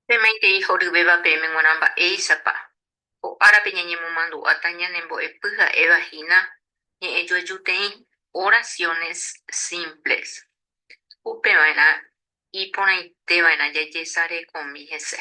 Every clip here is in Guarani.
Pemaitei horyvéva peẽme g̃uarã mba'éichapa ko árape ñañemomandu'áta ñanembo'epy ha'éva hína ñe'ẽjoajuteĩ oraciones simples, upeva'erã iporãiteva'erã jajesarekomi hese.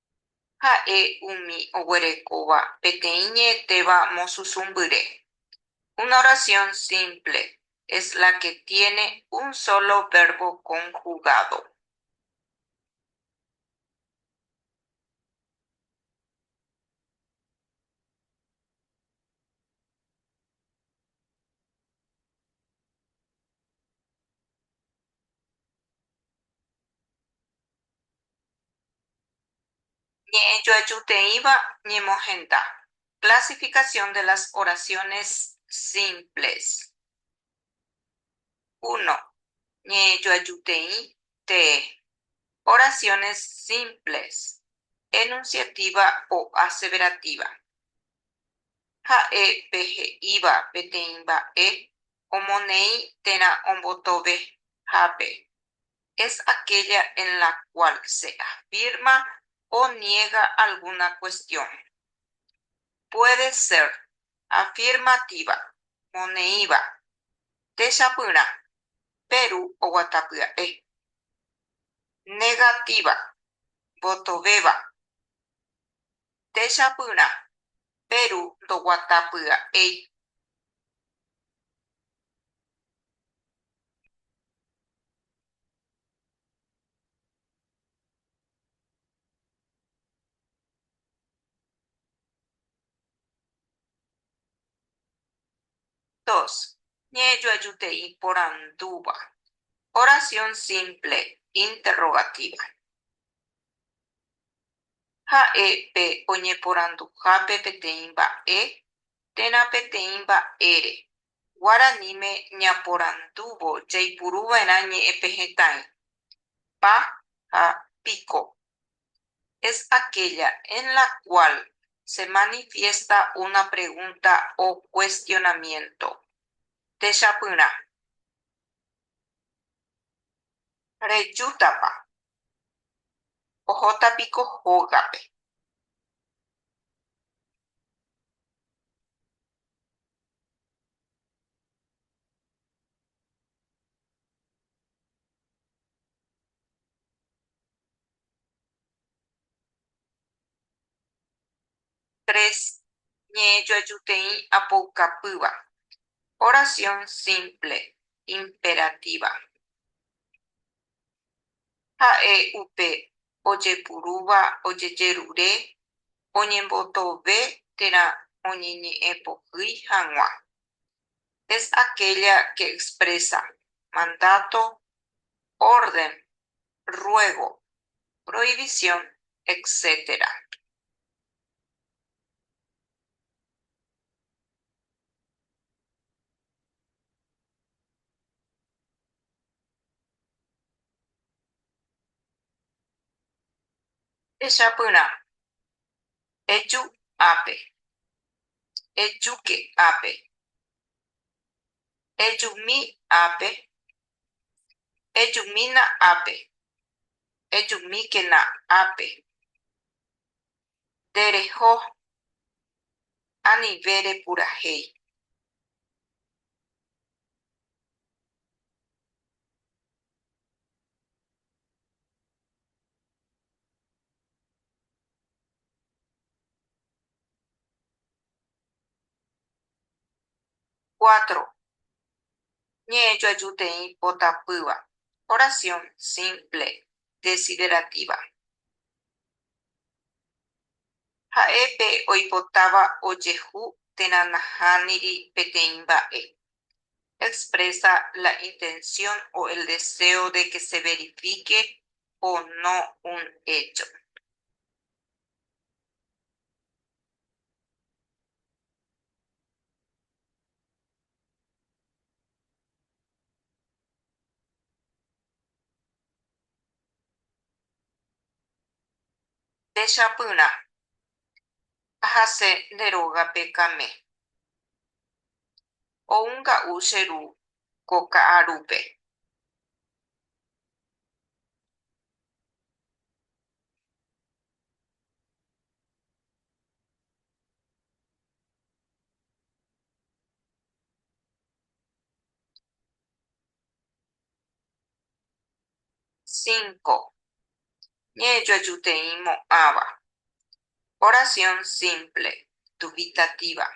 Ha'e umi oguerekóva peteĩ ñe'ẽtéva mosusũmbyre. Una oración simple es la que tiene un solo verbo conjugado. Ñe'ẽjoajuteĩva ñemohenda. Clasificación de las oraciones simples. Uno, Ñe'ẽjoajuteĩ tee. Oraciones simples, enunciativa o aseverativa. Ha'e pe he'íva peteĩ mba'e omoneĩ térã ombotovehápe. es aquella en la cual se afirma o niega alguna cuestión. Puede ser afirmativa, moneĩva, techapyrã, péru oguata pya'e. Negativa, votovéva. techapyrã, péru ndoguata pya'éi. Ñe'ẽjoajutei porandúva. Oración simple interrogativa. Ha'e pe oñeporanduhápe peteĩ mba'e térã peteĩ mba'ére, guaraníme ñaporandúvo jaipuru va'erã ñe'ẽpehẽtãi, pa ha piko. Es aquella en la cual se manifiesta una pregunta o cuestionamiento. Techapyrã. Rejútapa Ohóta piko hógape. Tres, Ñe'ẽjoajuteĩ apoukapýva. Oración simple, imperativa. Ha'e upe ojepurúva ojejerure oñembotove térã oñeñe'ẽpohýi hag̃ua. Es aquella que expresa mandato, orden, ruego, prohibición, etc. Echapyrã. Eju ápe. Ejuke ápe. Ejumi ápe. Ejumína ápe. Ejumíkena ápe. ndereho anive repurahéi. Cuatro, Ñe'ẽjoajuteĩ po tapýva. Oración simple, desiderativa. Ha'e pe oipotáva ojehu térã nahániri peteĩ mba'e. Expresa la intención o el deseo de que se verifique o no un hecho. Techapyrã, ahase nde rógape Kame. Ou nga'u che ru ko ka'arúpe. Cinco, Ñe'ẽjoajuteĩ mo'ãva. Oración simple, dubitativa.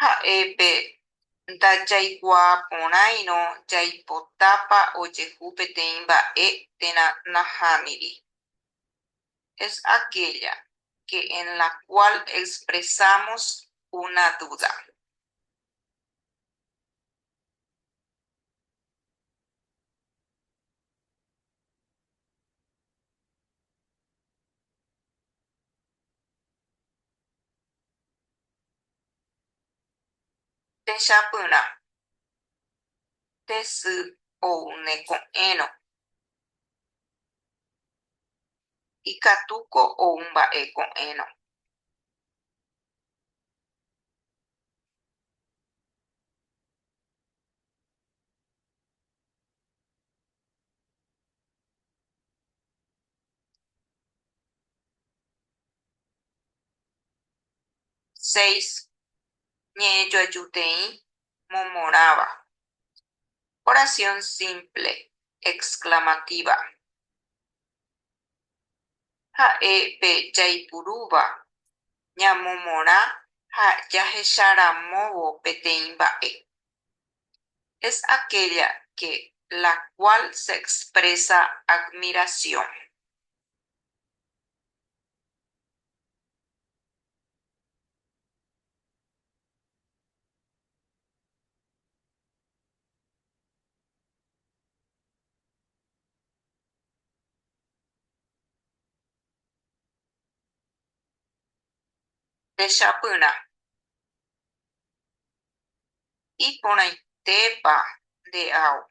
Ha'e pe ndajaikuaa porãirõ jaipotápa ojehu peteĩ mba'e térã nahániri. es aquella que en la cual expresamos una duda. Techapyrã, tesy ou ne ko'ẽrõ. Ikatúko ou mba'e ko'ẽrõ. Seis, Ñe'ẽjoajuteĩ momorãva. Oración simple, exclamativa. Ha'e pe jaipurúva ñamomorã ha jahecha ramóvo peteĩ mba'e. Es aquella que la cual se expresa admiración. Techapyrã. Iporãitépa nde ao.